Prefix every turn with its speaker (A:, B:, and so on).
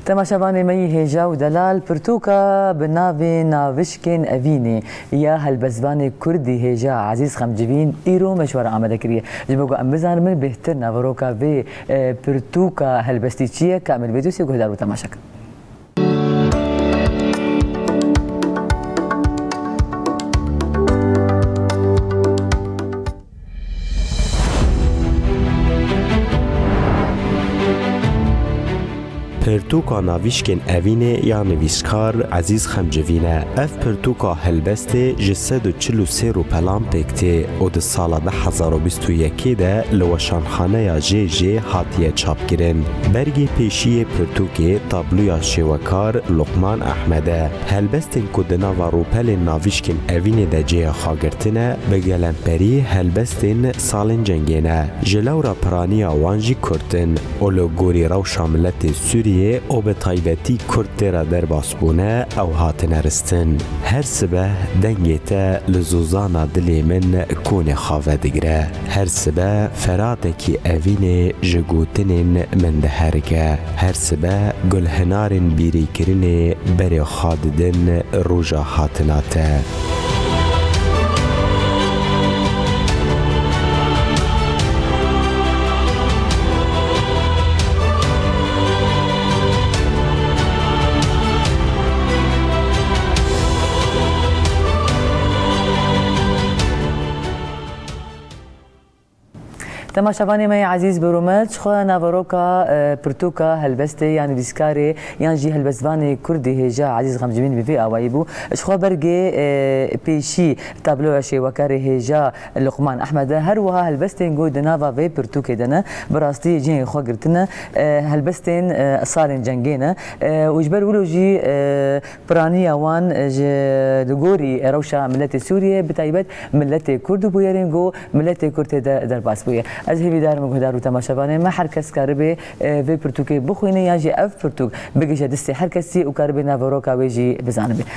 A: Temaşevanê me yî hêja û delal pirtûka bi navê Navişkên Evînê ya helbestvanê Kurdî hêja Ezîz Xemcivîn îro meşwara amade kiriye. Ji bo ku em bizanimin bêhtir naveroka vê pirtûka helbestî çi ye, ka em li vê dosyê guhdar bû temaşe kirin. Pirtûka navîşkên evînê ya nivîskar Ezîz Xemcivîn e. Ev pirtûka helbestê ji sed û çil û sê rûpelan pêk tê û di sala du hezar û bîst û yekê de li Weşanxaneya JJ hatiye çapkirin. Bergê pêşî yê pirtûkê tabloya şêwekar Luqman Ehmed e. Helbestên ku di nava rûpelên navîşkên evînê de cêya xwe girtine, bi gelemperî helbestên salên cengê ne. Ji lewra piraniya wan jî Kurd in û li gorî rewşa miletê Sûriyê û bi taybetî Kurd tê re derbas bûne ew hatine ristin. Her sibeh dengê te li zozana dilê min konê xave digire. Her sibe feratekî evînê ji gotinên min diherike. Her sibe gulhinarên bîrîkirinê berê xwe didin roja hatina te. Temaşevanê me yê ezîz bi Rûme ji xwe naveroka pirtûka helbestê yan vîskarê yan jî helbestvanê kurdî hêja ezîz xemcimîn bi vê awayî bû ji xwe bergê pêşî tabloya şêwekarê hêja Luqman Ehmed e her wiha helbestên ku di nava vê pirtûkê de ne bi rastî cihê xwe girtine helbestên salên cengê ne û ji ber wilo jî Piraniya wan ji li gorî rewşa miletê Sûriyê bi taybet miletê Kurd û bûyerên ku miletê Kurd tê de derbas bûye. Ez hêvîdar im guhdar û temaşevanê me her kes karibe vê pirtûkê bixwîne yan jî ev pirtûk bigihje distê her kesî û karibe naveroka wê jî bizanibe.